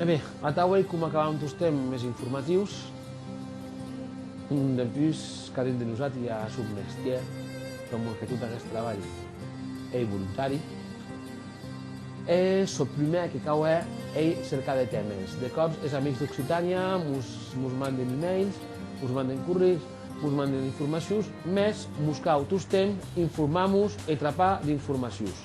E ben, atau ei coma acabam tostemp es informatius. Dempús, qu'a dins de nosati i a son mestièr, pr'amor que tot aguest trabalh ei volontari. E çò prumèr que cau hèr ei cercar de tèmes. De còps es amics d'Occitània mos manden emails, mos manden corrius, mos manden informacius, mès mos cau tostemp informar-mos e trapar d'informacius.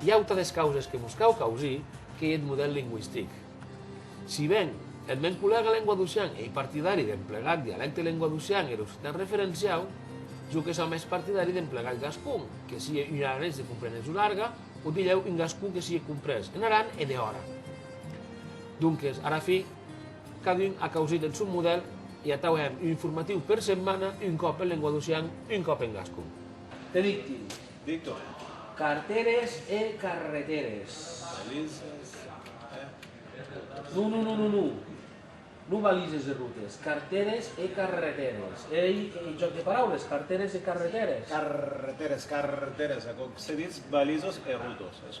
I autres causes que vos cau causir qu'ei eth modèl lingüistic. Si ben, eth mèn collèga lenguadocian ei partidari d'emplegar dialècte lenguadocian e er occitan referenciau, jo que sò mès partidari d'emplegar eth gascon, que sie un aranés de compreneson larga, o dilhèu un gascon que sie comprés en Aran e dehòra. Donques, ara fi, cadun a causit eth sòn modèl e atau hèm un informatiu per setmana, un còp en lenguadocian, un còp en gascon. Te dic, De torn. Carteres e carreteres. Valises e routes. Non, non, non, non. Non valises e routes. Carteres e carreteres. Ei un jòc de paraules, carteres e carreteres. Carreteres, carteres, aquò que se ditz valisos e routes.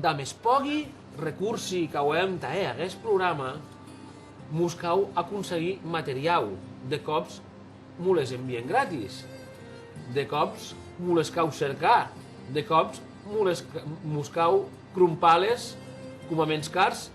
Damb es pògi recursi qu'auem tà hèr aguest programa, mos cau aconseguir materiau, de còps mo les envien gratis, de còps mo les cau cercar, de còps mos cau crompar-les coma menscars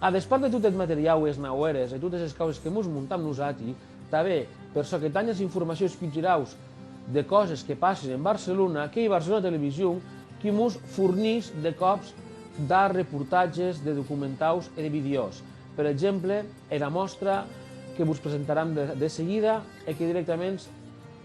A despart de tot eth materiau e es naueres e totes es causes que mos montam nosati, tanben per çò que tanh as informacions culturaus de causes que passen en Barcelona, qu'ei Barcelona Television qui mos fornís de còps de reportatges, de documentaus e de videos. Per exemple, era mòstra que vos presentaram de seguida e que directaments.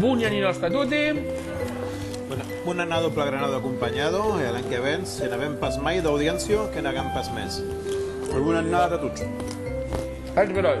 Boni anni nòstre a tote. Bon anado plagranado acompanyado e a l'an que ven se n'avèm pas mai d'audiéncia que n'agam pas mès. E bona annada a tots. Ech beròi.